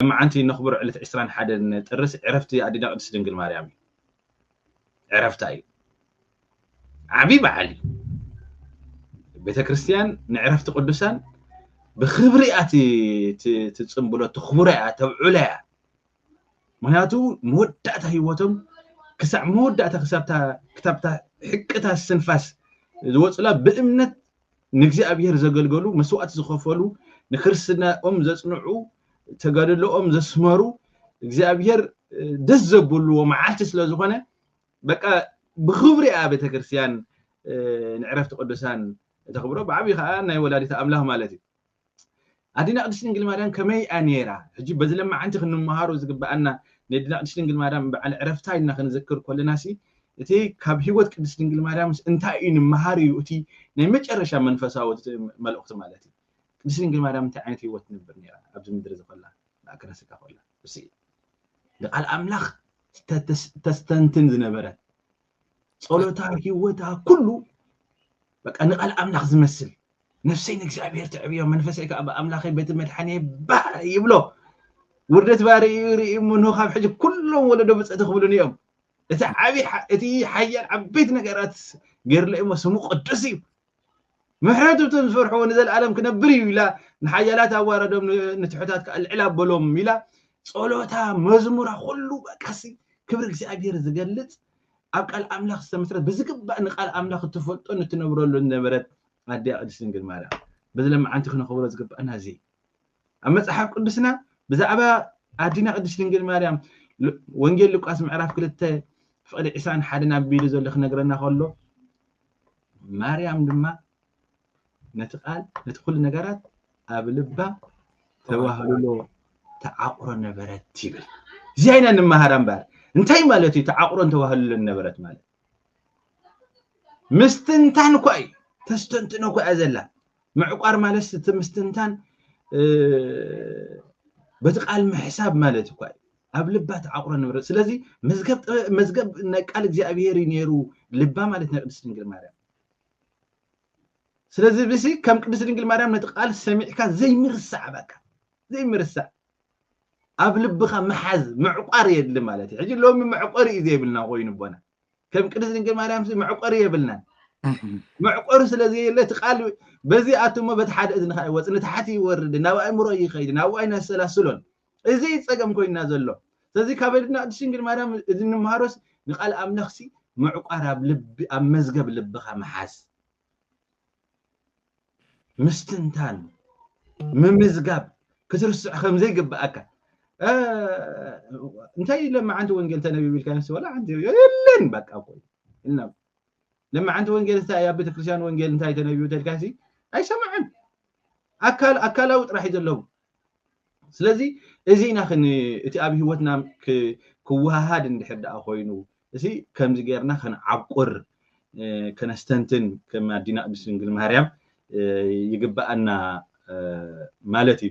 ሎምዓንቲ እነኽብሮ ዕለት ዕስራን ሓደን ጥርስ ዕረፍቲ ኣዴና ቅድስት ድንግል ማርያም እዩ። ዕረፍታ እዩ። ዓብይ በዓል እዩ። ቤተክርስትያን ንዕረፍቲ ቅዱሳን ብክብሪ እያ ትፅምብሎ፣ ተኽብሮ እያ፣ ተብዕሎ እያ። ምክንያቱ መወዳእታ ህይወቶም ክሳዕ መወዳእታ ክሳብታ ክታብታ ሕቅታ ስንፋስ ዝወፅላ ብእምነት ንእግዚኣብሔር ዘገልገሉ መስዋእቲ ዝኸፈሉ ንክርስትናኦም ዘጽንዑ ተጋድሎኦም ዘስመሩ እግዚኣብሔር ደስ ዘብልዎ መዓልቲ ስለ ዝኾነ በቃ ብኽብሪ እያ ቤተ ክርስቲያን ንዕረፍቲ ቅዱሳን ተኽብሮ ብዓብዪ ከዓ ናይ ወላዲት ኣምላኽ ማለት እዩ ኣዴና ቅድስት ድንግል ማርያም ከመይ እያ ነይራ? ሕጂ በዚ ለማዓንቲ ክንመሃሮ ዝግበኣና ነዴና ቅድስት ድንግል ማርያም በዓል ዕረፍታ ኢልና ክንዝክር ኮለናሲ እቲ ካብ ህይወት ቅድስት ድንግል ማርያምስ እንታይ እዩ ንመሃር እዩ እቲ ናይ መጨረሻ መንፈሳዊ መልእኽቱ ማለት እዩ። ቅድስት ድንግል ማርያም እንታይ ዓይነት ህይወት ትነብር ነይራ ኣብዚ ምድሪ እዚ ኮላ ማእከለ ስጋ ኮላ ንቃል ኣምላኽ ተስተንትን ዝነበረት ጸሎታ ህይወታ ኩሉ በቃ ንቃል ኣምላኽ ዝመስል ነፍሰይ ንእግዚኣብሔር ትዕብዮ መንፈሰይ ከዓ ብኣምላኸይ በቲ መድሓኒ ባህ ይብሎ ውርደት ባሪ እዩ ርኢ ምንሆ ካብ ሕጂ ኩሎም ወለዶ ብፅእቲ ክብሉን እዮም እቲ ዓብይ እቲ ሓያል ዓበይቲ ነገራት ገይርለ እሞ ስሙ ቅዱስ እዩ ምሕረቱ እቶም ዝፈርሕዎ ንዘለኣለም ክነብር እዩ ኢላ ንሓያላት ኣዋረዶም ንትሑታት ከዓ ልዕል ኣበሎም ኢላ ጸሎታ መዝሙራ ኩሉ በቃሲ ክብሪ እግዚኣብሔር ዝገልጽ ኣብ ቃል ኣምላኽ ዝተመስረት ብዝግባእ ንቃል ኣምላኽ እትፈልጦን እትነብረሉ ዝነበረት ኣዲያ ቅድስት ድንግል ማርያም በዚ ለመዓንቲ ክነኽብሮ ዝግባእና እዚ ኣብ መጽሓፍ ቅዱስና ብዛዕባ ኣዲና ቅድስት ድንግል ማርያም ወንጌል ሉቃስ ምዕራፍ ክልተ ፍቕዲ ዕሳን ሓደን ኣቢሉ ዘሎ ክነግረና ከሎ ማርያም ድማ ነቲ ቃል ነቲ ኩሉ ነገራት ኣብ ልባ ተዋህልሎ ተዓቑሮ ነበረት ይብል እዚኣ ኢና ንመሃራ እምበኣር እንታይ ማለት እዩ ተዓቑሮን ተዋህልሎን ነበረት ማለት ምስትንታን እኳ እዩ ተስተንትኖ እኳ እያ ዘላ ምዕቋር ማለት እቲ ምስትንታን በቲ ቃል ምሕሳብ ማለት እኳ እዩ ኣብ ልባ ትዓቑሮ ነበረት ስለዚ መዝገብ ጥበብ መዝገብ ናይ ቃል እግዚኣብሄር እዩ ነይሩ ልባ ማለት ናይ ቅድስት ድንግል ማርያም ስለዚ ብሲ ከም ቅድስት ድንግል ማርያም ነቲ ቃል ሰሚዕካ ዘይምርሳዕ በቃ ዘይምርሳዕ ኣብ ልብኻ ምሓዝ ምዕቋር የድሊ ማለት እዩ ሕጂ ሎሚ መዕቆሪ እዩ ዘይብልና ኮይኑ ቦና ከም ቅድስት ድንግል ማርያም መዕቆሪ የብልናን መዕቆሪ ስለ ዘየለ እቲ ቃል በዚ ኣትሞ በቲ ሓደ እዝንኻ ይወፅ ንታሕቲ ይወርድ ናብ ኣእምሮ ይኸይድ ናብ ዋይን ኣሰላስሎን እዚ ፀገም ኮይና ዘሎ ስለዚ ካብ እድና ቅድስት ድንግል ማርያም እዚ ንምሃሮስ ንቃል ኣምላኽሲ ምዕቋር ኣብ ልቢ ኣብ መዝገብ ልብኻ ምሓዝ ምስትንታን ምምዝጋብ ክትርስዕ ከም ዘይግብኣካ እንታይ ለመዓንቲ ወንጌል ተነቢብ ኢልካ ንስ ወላ ሓንቲ የለን በቃ ኮይ እና ለመዓንቲ ወንጌል እንታይ ኣብ ቤተክርስትያን ወንጌል እንታይ ተነቢቡ ተልካሲ ኣይሰማዕን ኣካል ኣካላዊ ጥራሕ እዩ ዘለዉ ስለዚ እዚ ኢና እቲ ኣብ ህይወትና ክወሃሃድ እንድሕር ደኣ ኮይኑ እዚ ከምዚ ጌርና ከንዓቁር ከነስተንትን ከም ኣዲና ቅድስት ድንግል ማርያም ይግበኣና ማለት እዩ።